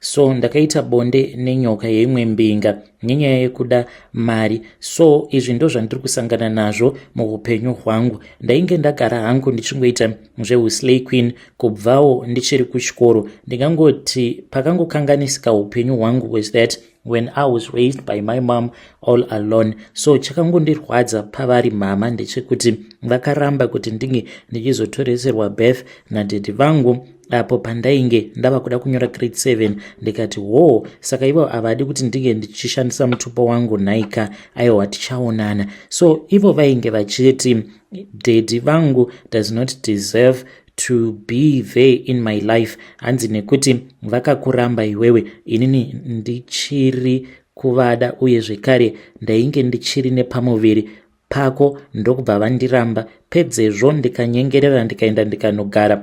so ndakaita bonde nenyoka yeimwe mbinga nenyaya yekuda mari so izvi ndo zvandiri kusangana nazvo muupenyu hwangu ndainge ndagara hangu ndichingoita zveuslay queen kubvawo ndichiri kuchikoro ndingangoti pakangokanganisika upenyu hwangu was that when i was raised by my mom all alone so chakangondirwadza pavari mhama ndechekuti vakaramba kuti ndinge ndichizotoreserwa birth nadhedhi vangu apo pandainge ndava kuda kunyora grade 7 ndikati hoo saka ivo havadi kuti ndinge ndichishandisa mutupo wangu nhaika aiwa tichaonana so ivo vainge vachiti dedi vangu does not deserve to be there in my life hanzi nekuti vakakuramba iwewe inini ndichiri kuvada uye zvekare ndainge ndichiri nepamuviri pako ndokubva vandiramba pedzezvo ndikanyengerera ndikaenda ndikanogara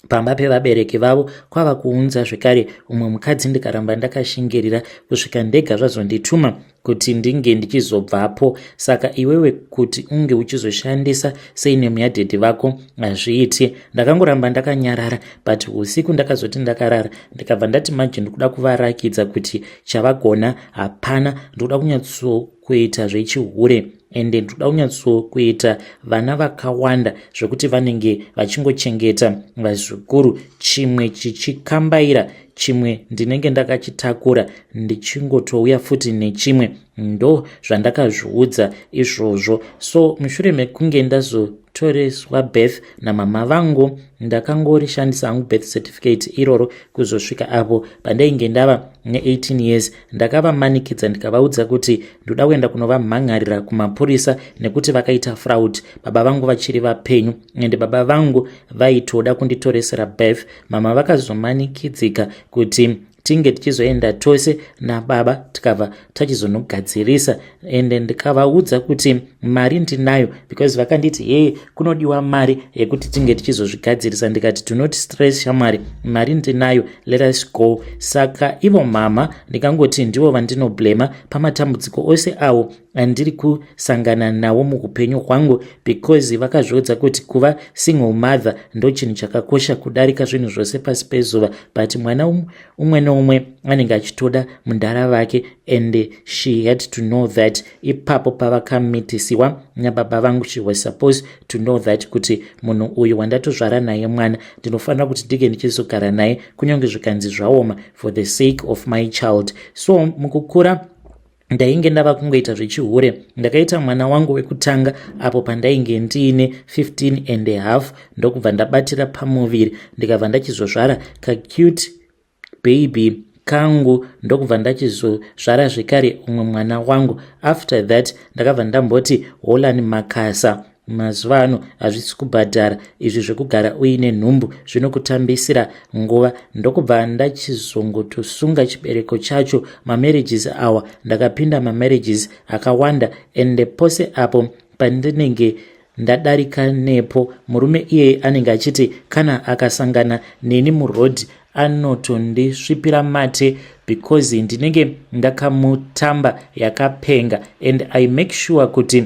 pamba pevabereki vavo kwava kuunza zvekare umwe mukadzi ndikaramba ndakashingirira kusvika ndega zvazondituma kuti ndinge ndichizobvapo saka iwewe kuti unge uchizoshandisa sei nemu yadhedhi vako hazviiti ndakangoramba ndakanyarara but usiku ndakazoti ndakarara ndikabva ndati manje ndikuda kuvarakidza kuti chavagona hapana ndikuda kunyatso kuita zvechihure ende ndoda kunyatsokuita vana vakawanda zvekuti vanenge vachingochengeta vazukuru chimwe chichikambaira chimwe ndinenge ndakachitakura ndichingotouya futi nechimwe ndo zvandakazviudza izvozvo so mushure mekunge ndazotoreswa birth namama vangu ndakangorishandisa hangu birth certificate iroro kuzosvika apo pandainge ndava ne18 years ndakavamanikidza ndikavaudza kuti ndoda kuenda kunovamhan'arira kumapurisa nekuti vakaita fraud baba vangu vachiri vapenyu ende baba vangu vaitoda kunditoresera birth mama vakazomanikidzika kuti tinge tichizoenda tose nababa tikabva tachizonogadzirisa and ndikavaudza kuti mari ndinayo because vakanditi hee kunodiwa mari yekuti tinge tichizozvigadzirisa ndikati do not stress shamwari mari ndinayo let us go saka ivo mhamha ndikangoti ndivo vandinoblema pamatambudziko ose awo andiri kusangana nawo muupenyu hwangu because vakazviudza kuti kuva single mother ndo chinhu chakakosha kudarika zvinhu zvose pasi pezuva but mwana umwe neumwe anenge achitoda mudhara vake and she had to know that ipapo pavakamitisiwa nababa vangu she was supposed to know that kuti munhu uyu wandatozvara naye mwana ndinofanira kuti ndike ndichizogara naye kunyange zvikanzi zvaoma for the sake of my child so mukukura ndainge ndava kungoita zvechihure ndakaita mwana wangu wekutanga apo pandainge ndiine 15 and a half ndokubva ndabatira pamuviri ndikabva ndachizozvara kacute baby kangu ndokubva ndachizozvara zvekare umwe mwana wangu after that ndakabva ndamboti holani makasa Mazuva ano hazvisi kubhadhara izvi zvekugara uine nhumbu zvinokutambisira nguva ndokubva ndachizongotosunga chibereko chacho mamarriages awa ndakapinda mamarriages akawanda ende pose apo pandinenge ndadarika nepo murume iyeye anenge achiti kana akasangana neni muroad anotondisvipira mate because ndinenge ndakamutamba yakapenga and i make sure kuti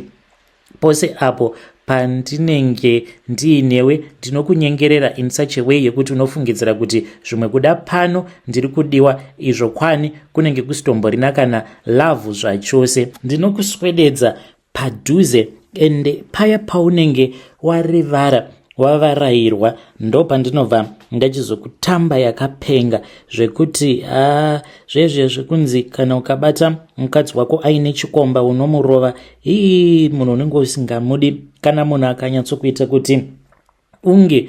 Pose apo pandinenge ndiinewe ndinokunyengerera in such a way yekuti unofungidzira kuti zvimwe kuda pano ndiri kudiwa izvo kwani kunenge kusitomborina kana lavhu zvachose ndinokuswededza padhuze ende paya paunenge warivara wavarayirwa ndopandinobva ndachizokutamba yakapenga zvekuti a zvezve zvekunzi kana ukabata mukadzi wako aine chikomba unomurova hii munhu unenge usingamudi kana munhu akanyatsokuita kuti unge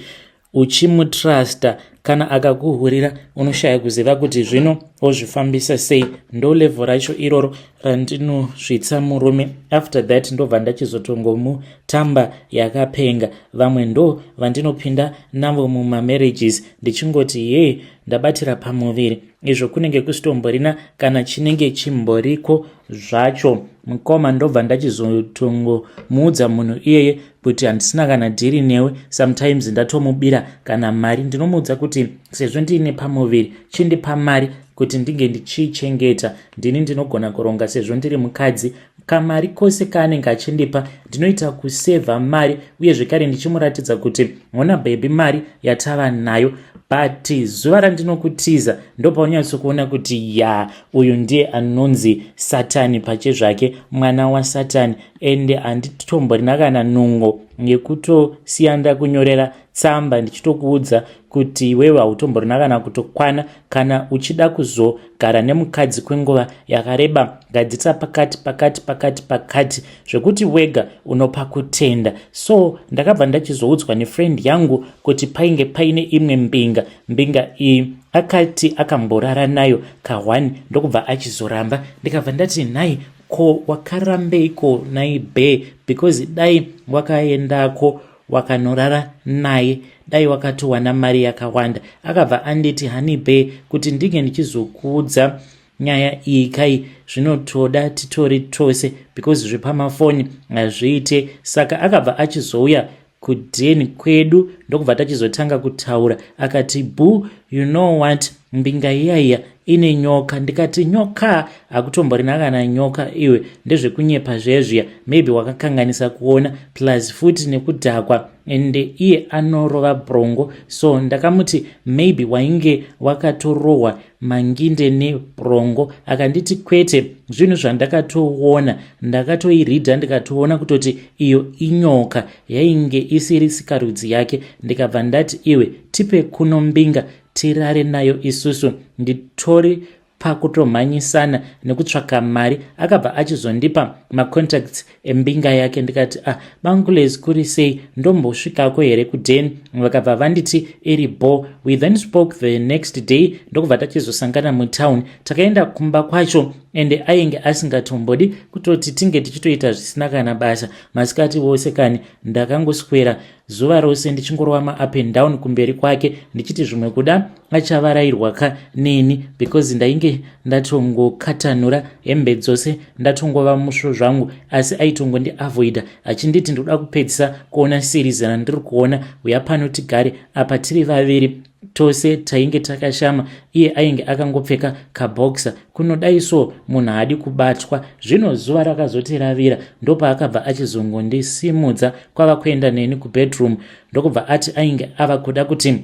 uchimutrusta kana akakuhurira unoshaya kuziva kuti zvino ozvifambisa sei ndo levho racho iroro randinosvitsa murume after that ndobva ndachizotongomutamba yakapenga vamwe ndo vandinopinda navo mumamarriages ndichingoti yee ndabatira pamuviri izvo kunenge kusitomborina kana chinenge chimboriko zvacho mukoma ndobva ndachizotongo muudza munhu iyeye kuti handisina kana dhiri newe sometimes ndatomubira kana mari ndinomuudza kuti sezvo ndiine pamuviri chindipa mari kuti ndinge ndichiichengeta ndini ndinogona kuronga sezvo ndiri mukadzi kamari kose kaanenge achindipa ndinoita kusevha mari uye zvekare ndichimuratidza kuti hona bhebhi mari yatava nayo but zuva randinokutiza ndopaunyatsikuona kuti ya uyu ndiye anonzi satani pache zvake mwana wasatani ende handitomborina kana nungo yekutosiya ndakunyorera tsamba ndichitokuudza kuti iwewe hautomborina kana kutokwana kana uchida kuzogara nemukadzi kwenguva yakareba ngadzitsa pakati pakati pakati pakati zvekuti wega unopa kutenda so ndakabva ndachizoudzwa nefriend yangu kuti painge paine imwe mbinga mbinga iyi akati akamborara nayo kahwani ndokubva achizoramba ndikabva ndati nhai ko wakarambeiko nai be because dai wakaendako wakanorara naye dai wakatowana mari yakawanda akabva anditi honey bear kuti ndinge ndichizokuudza nyaya iyi kai zvinotoda titori tose because zvepamafoni hazviite saka akabva achizouya kudeni kwedu ndokubva tachizotanga kutaura akati boo you know what Mbinga iya iya ine nyoka ndikati nyoka hakutomborina kana nyoka iwe ndezvekunyepa zvezviya maybe wakakanganisa kuona plus futi nekudhakwa and iye anorova brongo so ndakamuti maybe wainge wakatorohwa manginde nebrongo akanditi kwete zvinhu zvandakatoona ndakatoiridha ndikatoona kutoti iyo inyoka yainge isiri sikarudzi yake ndikabva ndati iwe tipe kuno mbinga tirare nayo isusu nditori pakutomhanyisana nekutsvaka mari akabva achizondipa macontacts embinga yake ndikati ah bangules kuri sei ndombosvikako here kuden vakabva vanditi iri bo we then spoke the next day ndokubva tachizosangana mutown takaenda kumba kwacho ende ainge asingatombodi kutoti tinge tichitoita zvisina kana basa masikati vose kani ndakangoswera zuva rose ndichingorova maup and down kumberi kwake ndichiti zvimwe kuda achavarairwa ka neni because ndainge ndatongokatanura hembe dzose ndatongova musvo zvangu asi aitongondiavoida achinditi ndikuda kupedzisa kuona series randiri kuona uya pano tigare apa tiri vaviri tose tainge takashama iye ainge akangopfeka kaboksa kunodai so munhu haadi kubatwa zvino zuva rakazoti ravira ndopaakabva achizongondisimudza kwava kuenda neni kubedroom ndokubva ati ainge ava kuda kuti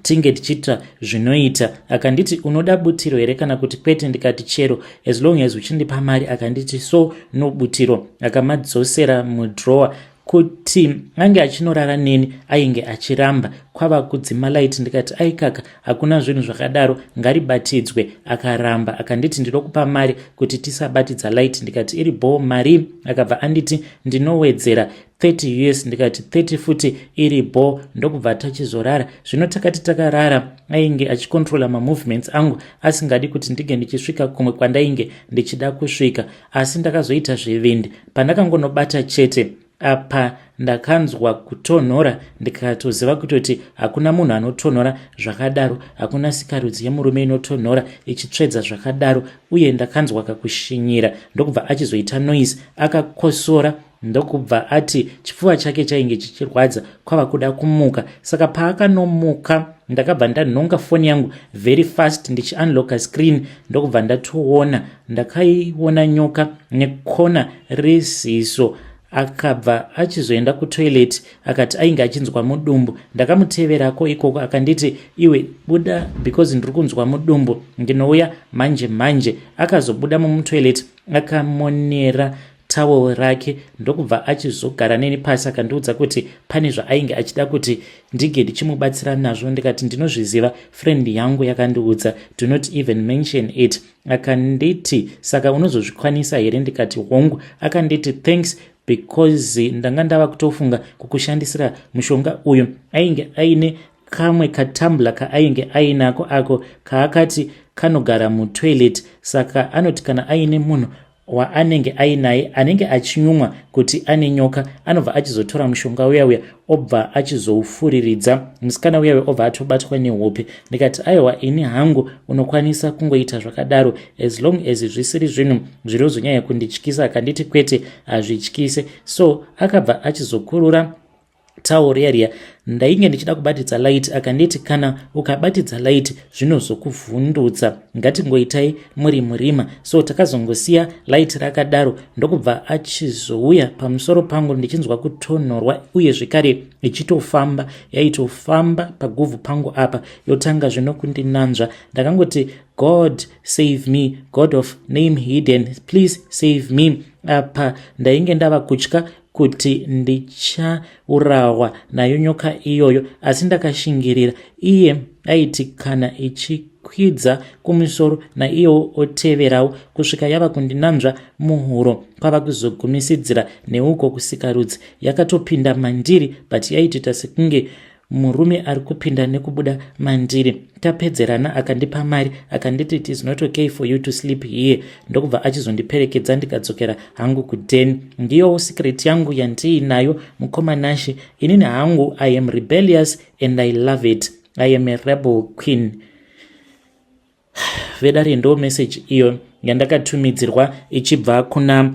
tinge tichiita zvinoita akanditi unoda butiro here kana kuti kwete ndikati chero as long as uchindipa mari akanditi so no butiro akamadzosera mudrower kuti ange achinorara neni ainge achiramba kwava kudzima light ndikati aikaka hakuna zvinhu zvakadaro ngaribatidzwe akaramba akanditi ndinokupa mari kuti tisabatidza light ndikati iri bhoo mari akabva anditi ndinowedzera 30 us ndikati 30 futi iri bho ndokubva tachizorara zvino takati takarara ainge achikontrola mamovements angu asingadi kuti ndinge ndichisvika kumwe kwandainge ndichida kusvika asi ndakazoita zvivindi pandakangonobata chete apa ndakanzwa kutonhora ndikatoziva kutoti hakuna munhu anotonhora zvakadaro hakuna sikarudzi yemurume inotonhora ichitsvedza zvakadaro uye ndakanzwa kakushinyira ndokubva achizoita noise akakosora ndokubva ati chipfuva chake chainge chichirwadza kwava kuda kumuka saka paakanomuka ndakabva ndanhonga foni yangu very fast ndichiunlocka screen ndokubva ndatoona ndakaiona nyoka nekona reziso akabva achizoenda kutoilet akati ainge achinzwa mudumbu ndakamuteverako ikoko akanditi iwe buda because ndiri kunzwa mudumbu ndinouya manje manje akazobuda mumutoilet akamonera tawel rake ndokubva achizogara neni pasi akandiudza kuti pane zvaainge achida kuti ndinge ndichimubatsira nazvo ndikati ndinozviziva friend yangu yakandiudza do not even mention it akanditi saka unozozvikwanisa here ndikati hongu akanditi thanks because ndanga ndava kutofunga kukushandisira mushonga uyu ainge aine kamwe katambla kaainge ainako ako kaakati kanogara mutoilet saka anoti kana aine munhu waanenge ainaye anenge achinyumwa kuti ane nyoka anobva achizotora mushonga uya uya obva achizoufuriridza musikana uya uya obva atobatwa nehope ndikati aiwa ini hangu unokwanisa kungoita zvakadaro as long as zvisiri zvinhu zvirozonyanya kundityisa akanditi kwete hazvityise so akabva achizokurura Tawo riya riya ndainge ndichida kubatidza light akanditi kana ukabatidza light zvinozokuvhundutsa ngatingoitai muri murima so takazongosiya light rakadaro ndokubva achizouya pamusoro pangu ndichinzwa kutonhorwa uye zvekare ichitofamba yaitofamba paguvhu pangu apa yotanga zvino kundinanzva ndakangoti god save me god of name hidden please save me apa ndainge ndava kutya kuti ndichaurawa nayo nyoka iyoyo asi ndakashingirira iye aiti kana ichikwidza kumusoro naiyewo oteverawo kusvika yava kundinanzva muhuro kwava kuzogumisidzira neuko kusikarudzi yakatopinda mandiri but yaitita sekunge murume ari kupinda nekubuda mandiri tapedzerana akandipa mari akanditi it is not okay for you to sleep here ndokubva achizondiperekedza ndikadzokera hangu kuden ndiyowo secret yangu yandiinayo mukoma nashe inini hangu i am rebellious and i love it i am a rebel queen vedare ndo message iyo yandakatumidzirwa ichibva kuna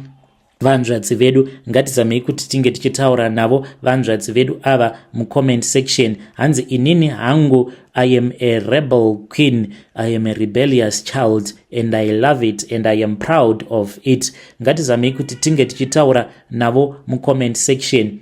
vanzvadzi vedu ngatizamei kuti tinge tichitaura navo vanzvadzi vedu ava mucomment section hanzi inini hangu i am a rebel queen i am a rebellious child and i love it and i am proud of it ngatizamei kuti tinge tichitaura navo mucomment section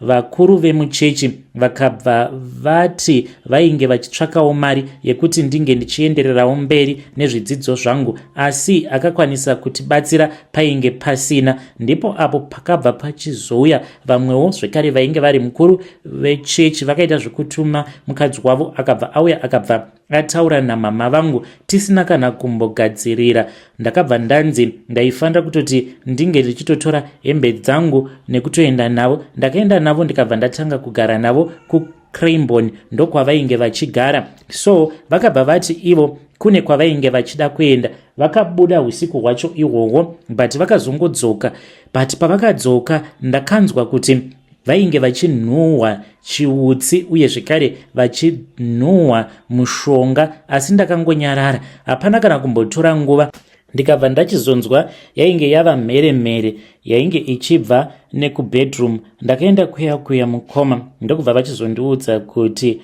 Vakuru vemuchechi vakabva vati vainge vachitsvakawo mari yekuti ndinge ndichiendererawo mberi nezvidzidzo zvangu asi akakwanisa kutibatsira painge pasina ndipo apo pakabva pachizouya vamwewo zvekare vainge vari mukuru vechechi vakaita zvekutuma mukadzi wavo akabva auya akabva ataura namama vangu tisina kana kumbogadzirira ndakabva ndanzi ndaifanira kutoti ndinge ndichitotora hembe dzangu nekutoenda navo ndakaenda navo ndikabva ndatanga kugara navo kucrambon ndokwavainge vachigara so vakabva vati ivo kune kwavainge vachida kuenda vakabuda usiku hwacho ihwohwo but vakazongodzoka but pavakadzoka ndakanzwa kuti vainge vachinhuhwa chiutsi uye zvekare vachinhuhwa mushonga asi ndakangonyarara hapana kana kumbotora nguva ndikabva ndachizonzwa yainge yava mhere mhere yainge ichibva nekubedroom ndakaenda kuya kuya mukoma ndokubva vachizondiudza kuti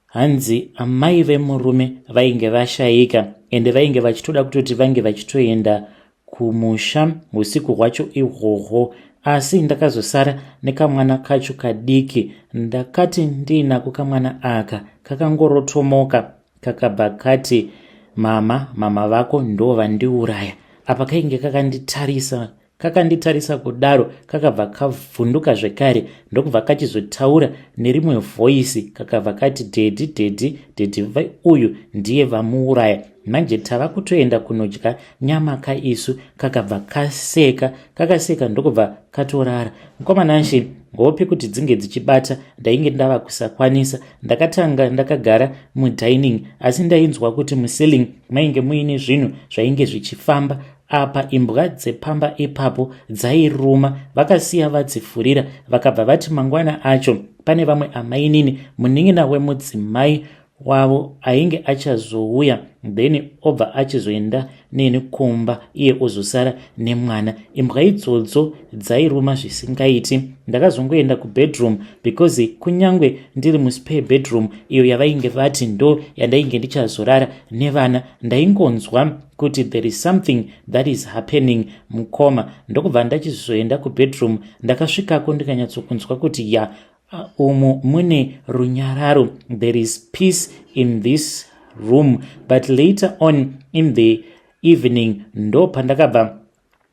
hanzi amai vemurume vainge vashaika ende vainge vachitoda kutoti vange vachitoenda kumusha usiku hwacho ihwohwo asi ndakazosara nekamwana kacho kadiki ndakati ndiinako kamwana aka kakangorotomoka kakabva kati mama mama vako ndo vandiuraya apa kainge kakanditarisa kakanditarisa kudaro kakabva kavhunduka zvekare ndokubva kachizotaura nerimwe vhoisi kakabva kati dedi dedi dedi uyu ndiye vamuuraya manje tava kutoenda kunodya nyama ka isu kakabva kaseka kakaseka ndokubva katorara mukomana nshi hope kuti dzinge dzichibata ndainge ndava kusakwanisa ndakatanga ndakagara mudining asi ndainzwa kuti muceiling mainge muine zvinhu zvainge zvichifamba apa imbwa dzepamba ipapo dzairuma vakasiya vadzifurira vakabva vati mangwana acho pane vamwe amainini munin'ina wemudzimai wavo ainge achazouya then obva achizoenda neni kumba iye ozosara nemwana imbwa idzodzo dzairuma zvisingaiti ndakazongoenda kubedroom because kunyange ndiri muspare bedroom iyo yavainge vati ndo yandainge ndichazorara nevana ndaingonzwa kuti there is something that is happening mukoma ndokubva ndachizoenda kubedroom ndakasvikako ndikanyatsokunzwa kuti ya umu mune runyararo there is peace in this room but later on in the evening ndo pandakabva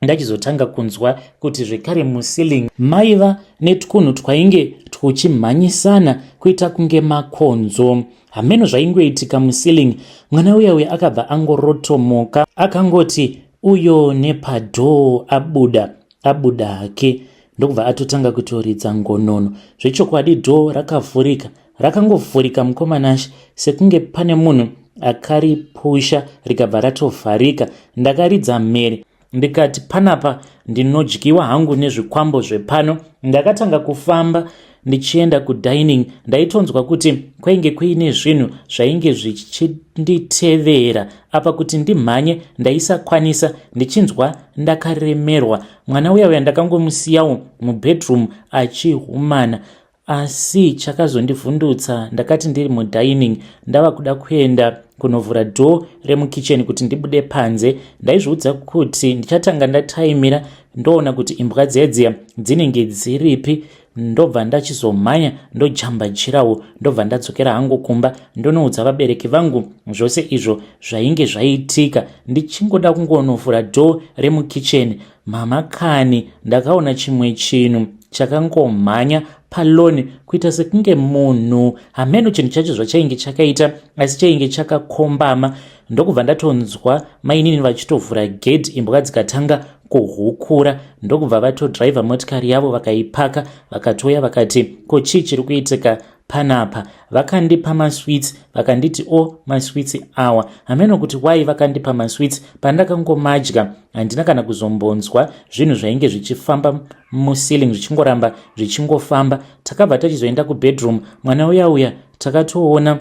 ndachizotanga kunzwa kuti zvekare muceiling maiva netwunhu twainge twuchimhanyisana kuita kunge makonzo hameno zvaingoitika muceiling mwana uya uya akabva angorotomoka akangoti uyo nepadhoo abuda abuda hake ndokubva atotanga kutoridza ngonono zvechokwadi dhoo rakavhurika rakangovhurika mukomanashe sekunge pane munhu akaripusha rikabva ratovharika ndakaridza mhere ndikati panapa ndinodyiwa hangu nezvikwambo zvepano ndakatanga kufamba ndichienda kudining ndaitonzwa kuti kwainge kuine zvinhu zvainge zvichinditevera apa kuti ndimhanye ndaisakwanisa ndichinzwa ndakaremerwa mwana uya uya ndakangomusiyawo mubedroom achihumana asi chakazondivhundutsa ndakati ndiri mudining ndava kuda kuenda kunovhura door remukicheni kuti ndibude panze ndaizviudza kuti ndichatanga ndataimira ndoona kuti imbwa dziya dziya dzinenge dziripi ndobva ndachizomhanya ndojamba jirawo ndobva ndadzokera hangu kumba ndonoudza vabereki vangu zvose izvo zvainge zvaitika ndichingoda kungonovhura dho remukicheni mama kani ndakaona chimwe chinhu chakangomhanya paloni kuita sekunge munhu hameno chinhu chacho zvachainge chakaita asi chainge chakakombama ndokubva ndatonzwa mainini vachitovhura gedhi imbwa dzikatanga kuhukura ndokubva vatodriver motikari yavo vakaipaka vakatouya vakati ko chii chiri kuitika panapa vakandipa maswits vakanditi o oh, maswits awa hameno kuti wai vakandipa maswits pandakangomadya handina kana kuzombonzwa zvinhu zvainge zvichifamba muceiling zvichingoramba zvichingofamba takabva tachizoenda kubedroom mwana uya uya takatoona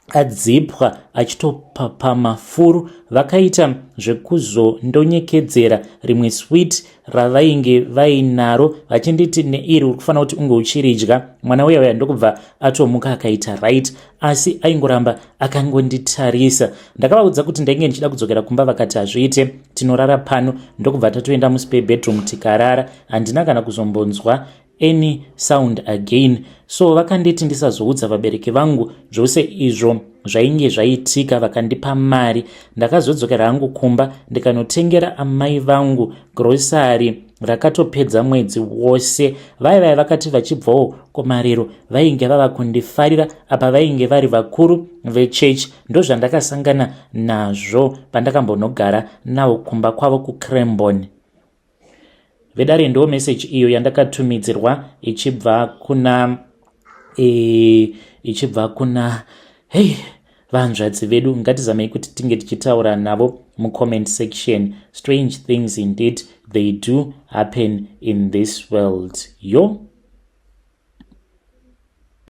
adzipwa achitopapama furu vakaita zvekuzondonyekedzera rimwe swit ravainge vainaro vachinditi neiri uri kufanira kuti unge uchiridya mwana uya uya ndokubva atomuka akaita right asi aingoramba akangonditarisa ndakavaudza kuti ndainge ndichida kudzokera kumba vakati hazviite tinorara pano ndokubva tatoenda muspe bedroom tikarara handina kana kuzombonzwa any sound again so vakanditi ndisazoudza vabereki vangu zvose izvo zvainge zvaitika vakandipa mari ndakazodzokera hangu kumba ndikanotengera amai vangu grosari rakatopedza mwedzi wose vai vai vakati vachibvawo kumariro vainge vava kundifarira apa vainge vari vakuru vechechi ndozvandakasangana nazvo pandakambonogara nawo kumba kwavo kucrambon vedare ndo message iyo yandakatumidzirwa ichibva kuna e, ichibva kuna hei hey, vahanzvadzi vedu ngatizamei kuti tinge tichitaura navo mucomment section strange things indeed they do happen in this world yo